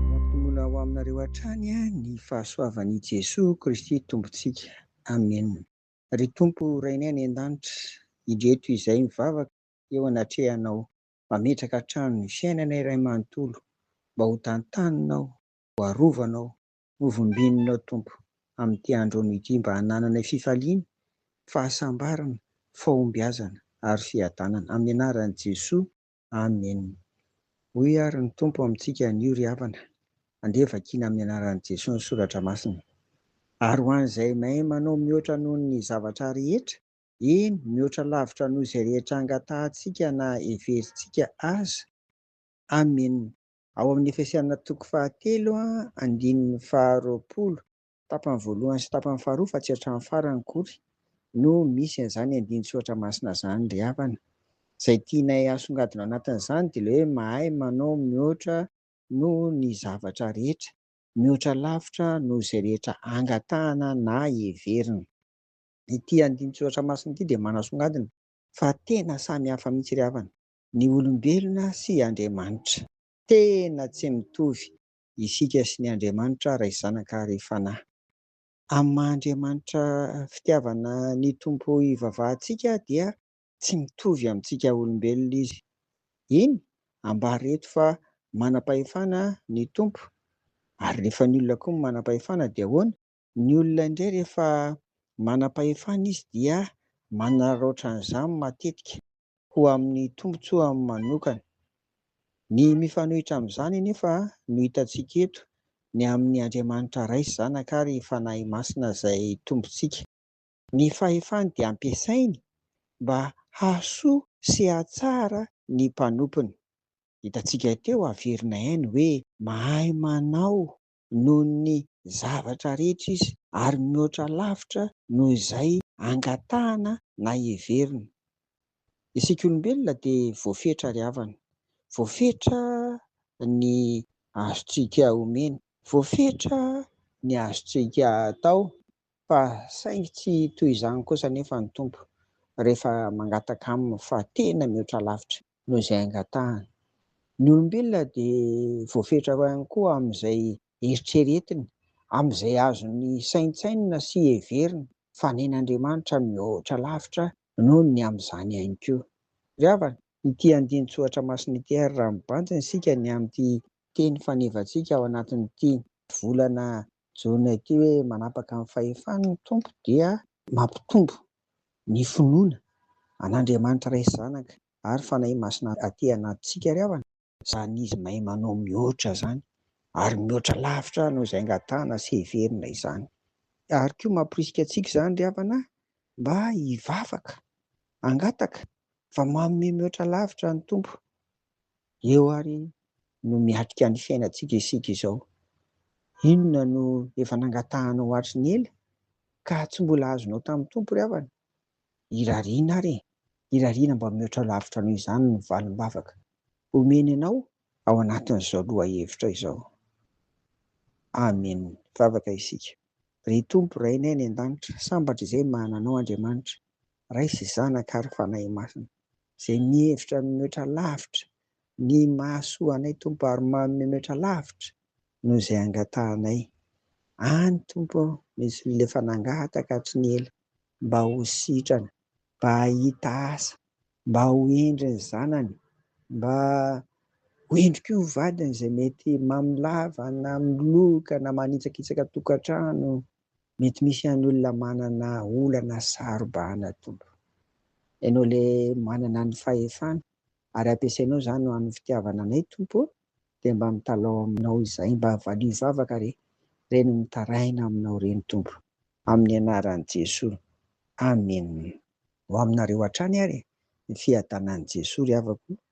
Mampitongona ho aminareo hatrany ny fahasoavan' i Jesoa Kristy Tompontsika. Amena. Ry Tompo Rainay any An-danitra, indreto izahay mivavaka eo anatrehanao, mametraka hatrany ny fiainanay iray manontolo mba ho tantaninao, ho arovanao, Hovombinonao Tompo amin'ity andron ity mba hanananay fifaliana, fahasambarana, fahombiazana ary fiadanana. Amin'ny anaran'i Jesoa. Amen. Hoy ary ny Tompo amintsika anio ry havana, andeha vakina amin'ny anaran'i Jesoa ny soratra masina. Ary ho an'izay mahay manao mihoatra noho ny zavatra rehetra, eny mihoatra lavitra noho izay rehetra angatahantsika na heverintsika aza. Amen. Ao amin'ny Efesiana toko fahatelo andininy faharoapolo, tapany voalohany sy tapany faharoa fa tsy hatramin'ny farany akory no misy an'izany andinin-tsoratra masina izany ry havana. Izay tianay hasongadina ao anatin'izany dia ilay hoe mahay manao mihoatra noho ny zavatra rehetra, mihoatra lavitra noho izay rehetra angatahana na heverina. Ity andinin-tsoratra masina ity dia manasongadina fa tena samy hafa mihitsy ry havana. ny olombelona sy Andriamanitra. Tena tsy mitovy isika sy ny Andriamanitra Ray Zanaka ary Fanahy. Amin'ny maha Andriamanitra fitiavana ny Tompo ivavahantsika dia tsy mitovy amintsika olombelona Izy. Eny, ambara eto fa manam-pahefana ny Tompo. Ary rehefa ny olona koa manam-pahefana dia ahoana? Ny olona indray rehefa manam-pahefana izy dia manararaotra an'izany matetika ho amin'ny tombontsoany manokana. Ny mifanohitra amin'izany anefa no hitantsika eto, ny amin'ny Andriamanitra Ray sy Zanaka ary Fanahy Masina izay Tompontsika. Ny fahefany dia ampiasainy mba hahasoa sy hahatsara ny mpanompony. Hitantsika teo averina ihany hoe mahay manao noho ny zavatra rehetra izy, ary mihoatra lavitra noho izay angatahana na heverina. Isika olombelona dia voafetra ry havana, voafetra ny azontsika omena, voafetra ny azontsika atao, fa saingy tsy toy izany kosa anefa ny Tompo rehefa mangataka Aminy fa tena mihoatra lavitra. noho izay angatahany. Ny olombelona dia voafetra ihany koa amin'izay eritreretiny, amin'izay azony saintsainina sy heverina, fa nen'Andriamanitra mihoatra lavitra noho ny amin'izany ihany koa. Ry havana, ity andinin-tsoratra masina ity ary raha mibanjina isika ny amin'ity teny fanevantsika ao anatin'ity volana jona ity hoe manapaka ny fahefany ny Tompo dia mampitombo ny finoana an'Andriamanitra Ray sy Zanaka ary Fanahy Masina aty anatintsika ry havana, izany izy mahay manao mihoatra izany ary mihoatra lavitra noho izay angatahana sy heverina izany. Ary koa mamporisika antsika izany ry havana mba hivavaka, hangataka fa manome mihoatra lavitra ny Tompo Eo ary no miatrika ny fiainantsika isika izao. Inona no efa nangatahanao hatry ny ela ka tsy mbola azonao tamin'ny Tompo ry havana? Irariana ary e! Irariana mba mihoatra lavitra noho izany ny valim-bavaka omeny anao ao anatin'izao lohahevitra izao. Amen! Vavaka isika. Ry Tompo Rainay any an-danitra, sambatra izay manana Anao Andriamanitra, Ray sy Zanaka ary Fanahy Masina. izay mihevitra ny mihoatra lavitra ny mahasoa anay Tompo ary manome mihoatra lavitra noho izay angatahanay any Tompo ô misy olona efa nangataka hatry ny ela mba ho sitrana mba hahita asa mba ho hendry ny zanany mba ho hendry koa ny vadiny izay mety mamilava na miloka na manitsakitsaka tokantrano Mety misy ihany olona manana olana sy saro-bahana tompo. Ianao le manana ny fahefana ary ampiasainao izany ho an'ny fitiavana anay tompo ô, dia mba mitalaho aminao izay mba valio vavaka re, reny mitaraina aminao reny tompo. Amin'ny anaran'i Jesoa. Amen. Ho aminareo hatrany ary ny fiadanan'i Jesoa ry havako o.